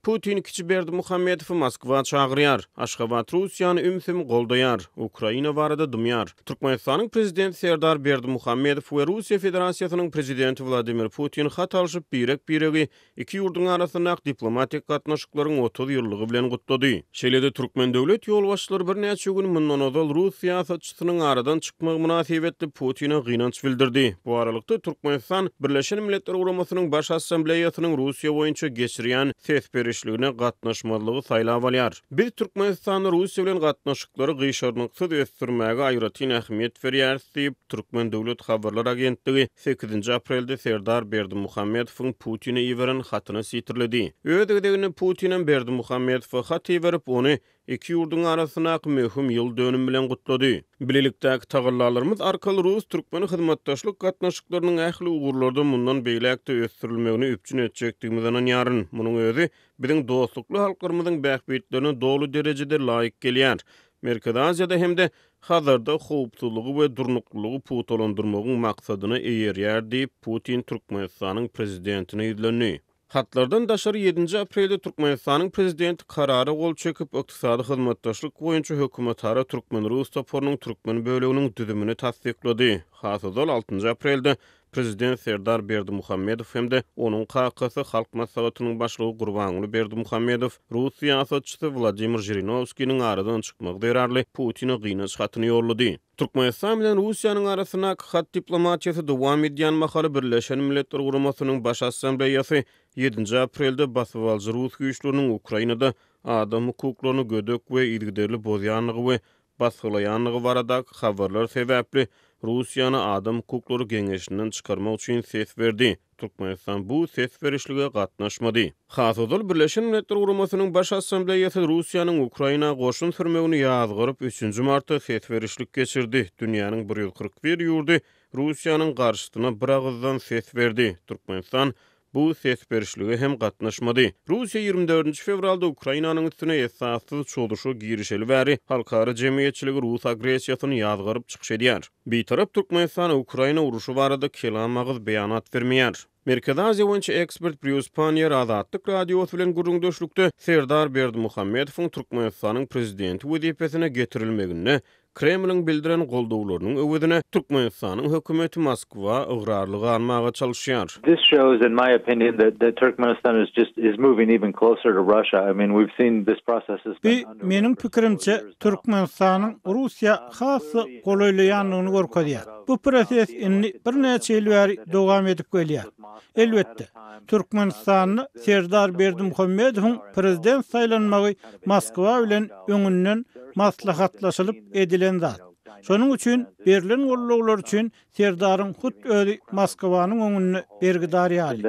Putin kiçi Berdimuhamedowy Moskwa çagyrýar, Aşgabat Russiýany ümsüm goldaýar, Ukraina barada dymýar. Türkmenistanyň Prezidenti Serdar Berdimuhamedow we Russiýa Federasiýasynyň Prezidenti Wladimir Putin hat alşyp, birek-biregi iki ýurduň arasyndaky diplomatik gatnaşyklaryň otuz ýyllygy bilen gutlady. Şeýle-de Türkmen döwlet ýolbaşçylary birnäçe gün mundan ozal rus syýasatçysy Baştutanyň aradan çykmagy mynasybetli Putine gynanç bildirdi. Bu aralykda, Türkmenistan Birleşen Milletler Guramasynyň Baş Assambleýasynyň Russiýa boýunça geçirýän ses berişligine gatnaşmazlygy saýlap alýar. Biz Türkmenistanda Russiýa bilen gatnaşyklary gyşarnyksyz ösdürmäge aýratyn ähmiýet berýäris diýip, Türkmen döwlet habarlar agentligi sekizinji aprelde Serdar Berdimuhamedowyň Putine iberen hatyny sitirledi. Öz gezeginde Putinem Berdimuhamedowa hat iberip, ony iki ýurduň arasyndaky möhüm ýyl dönümi bilen gutlady. Bilelikdäki tagallalarymyz arkaly rus-türkmen hyzmatdaşlyk gatnaşyklarynyň ähli ugurlarda mundan beýläk-de ösdürilmegini üpjün etjekdigimize ynanýaryn. Munuň özi biziň dostlukly halklarymyzyň bähbitlerine doly derejede laýyk gelýär. Merkezi Aziýada hem-de Hazarda howpsuzlygy we durnuklylygy pugtalandyrmagyň maksadyna eýerýär diýip, Putin Türkmenistanyň Prezidentine ýüzlendi. Hatlardan daşary ýedinji aprelde Türkmenistanyň Prezidenti Karara gol çekip, Ykdysady hyzmatdaşlyk boýunça hökümetara türkmen-rus toparynyň türkmen böleginiň düzümini tassyklady. Has ozal, altynjy aprelde Prezident Serdar Berdimuhamedow hem-de onuň kakasy, Halk Maslahatynyň Başlygy Gurbanguly Berdimuhamedow rus syýasatçysy Wladimir Žirinowskiniň aradan çykmagy zerarly Putine gynaç hatyny ýollady. Türkmenistan bilen Russiýanyň arasyndaky hat diplomatiýasy dowam edýän mahaly Birleşen Milletler Guramasynyň Baş Assambleýasy ýedinji aprelde basybalyjy rus güýçleriniň Ukrainada adam hukuklaryny gödek we yzygiderli bozýandygy we basgylaýandygy baradaky habarlar sebäpli Russiýany Adam hukuklary geňeşinden çykarmak üçin ses berdi. Türkmenistan bu ses berişlige gatnaşmady. Has ozal Birleşen Milletler Guramasynyň Baş Assambleýasy Russiýanyň Ukraina goşun sürmegini ýazgaryp, üçünji martda ses berişlik geçirdi. Dünýäniň bir ýüz kyrk bir ýurdy Russiýanyň garşysyna biragyzdan ses berdi. Türkmenistan bu ses berişlige hem gatnaşmady. Russiýa ýigrimi dördünji fewralda Ukrainanyň üstüne esassyz çozuşa girişeli bäri halkara jemgyýetçiligi rus agressiýasyny ýazgaryp çykyş edýär. Bitarap Türkmenistan Ukraina urşy barada kelam agyz beýanat bermeýär. Merkezi Aziýa boýunça ekspert Brýus Panniýer Azatlyk Radiosy bilen gürrüňdeşlikde Serdar Berdimuhamedowyň Türkmenistanyň prezidenti wezipesine getirilmeginde Kremliň bildiren goldawlarynyň öwezine Türkmenistanyň hökümeti Moskwa ygrarly galmaga çalyşýar. This shows in my opinion that that Turkmenistan is just is moving even closer to Russia. I mean we've seen this process has Bu been underway meniň for several pikirimçe years now. Türkmenistanyň Russiýa has-da golaýlaýandygyny görkezýär. Bu proses indi birnäçe ýyl bäri dowam edip gelýär. Elbetde, Türkmenistanda Serdar Berdimuhamedowyň prezident saýlanmagy Moskwa bilen öňünden maslahatlaşylyp edilen zat. Şonuň üçin berlen goldawlar üçin Serdaryň hut özi Moskwanyň öňünde bergidar ýaly.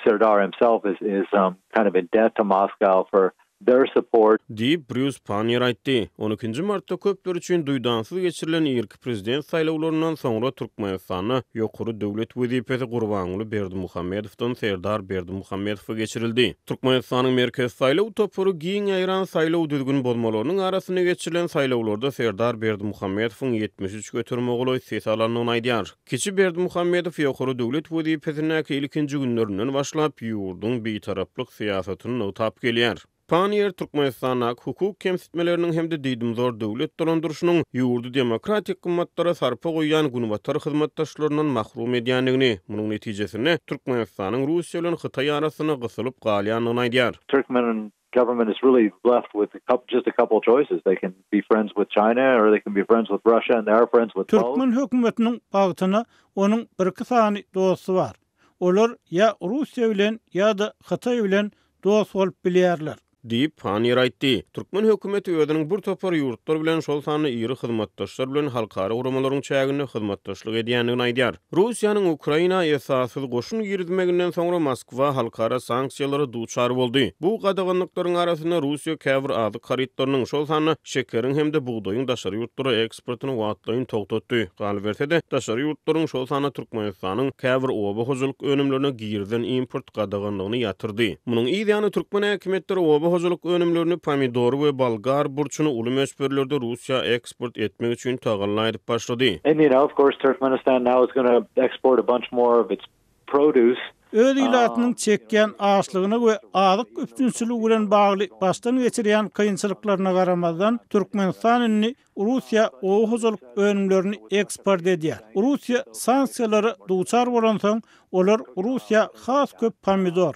Serdar himself is is um kind of in debt to Moscow for their support. Diýip, Brýus Panniýer aýtdy. On ikinji martda köpler üçin duýdansyz geçirilen irki prezident saýlawlaryndan soňra Türkmenistanda ýokary döwlet wezipesi Gurbanguly Berdimuhamedowdan Serdar Berdimuhamedowa geçirildi. Türkmenistanyň Merkezi saýlaw topary giň ýaýran saýlaw düzgün bozmalarynyň arasynda geçirilen saýlawlarda Serdar Berdimuhamedowyň ýetmiş üç göterimegolaý ses alandygyny aýdýar. Kiçi Berdimuhamedow ýokary döwlet wezipesindäki ilkinji günlerinden başlap, ýurduň bitaraplyk syýasatyny nygtap gelýär. Panniýer Türkmenistandaky hukuk kemsitmeleriniň hem-de diýdimzor döwlet dolandyryşynyň ýurdy demokratik gymmatlara sarpa goýýan günbatar hyzmatdaşlaryndan mahrum edýändigini, munuň netijesinde Türkmenistanyň Russiýa bilen Hytaý arasynda gysylyp galýandygyny aýdýar. Türkmeniň Government is really left with a couple just a couple of choices they can be friends with China or they can be friends with Russia and they are friends with both. Türkmen hökümetiniň bagtyna onuň birki sany dosty bar. Olar ýa Russiýa bilen ýa-da Hytaý bilen dost bolup bilýärler. Diýip, Paniýer aýtdy. Türkmen hökümeti özüniň bir topar ýurtlar bilen, şol sanda iri hyzmatdaşlar bilen halkara guramalaryň çäginde hyzmatdaşlyk edýändigini aýdýar. Russiýanyň Ukraina esassyz goşun girizmeginden soňra Moskwa halkara sanksiýalara duçar boldy. Bu gadaganlyklaryň arasynda Russiýa käbir azyk harytlarynyň, şol sanda şekeriň hem-de bugdaýyň daşary ýurtlara eksportyny wagtlaýyn togtatdy. Galyberse-de, daşary ýurtlaryň, şol sanda Türkmenistanyň käbir oba hojalyk önümlerine girizen import gadaganlygyny ýatyrdy. Munuň yz ýany türkmen häkimiýetleri oba hojalyk önümlerini, pomidory we bolgar burçuny uly möçberlerde Russiýa eksport etmek üçin tagalla edip başlady. Öz ilatynyň çekýän açlygyna we azyk üpjünçiligi bilen bagly başdan geçirýän kynçylyklaryna garamazdan, Türkmenistan indi Russiýa oba hojalyk önümlerini eksport edýär. Russiýa sanksiýalara duçar bolansoň, olar Russiýa has köp pomidor,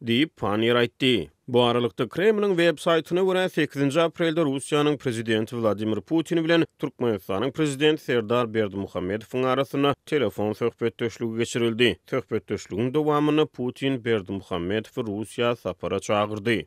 Diýip, Panniýer aýtdy. Bu aralykda, Kremliň websaýtyna görä, sekizinji aprelde Russiýanyň Prezidenti Wladimir Putin bilen Türkmenistanyň Prezidenti Serdar Berdimuhamedowyň arasynda telefon söhbetdeşligi geçirildi. Söhbetdeşligiň dowamynda Putin Berdimuhamedowy Russiýa sapara çagyrdy.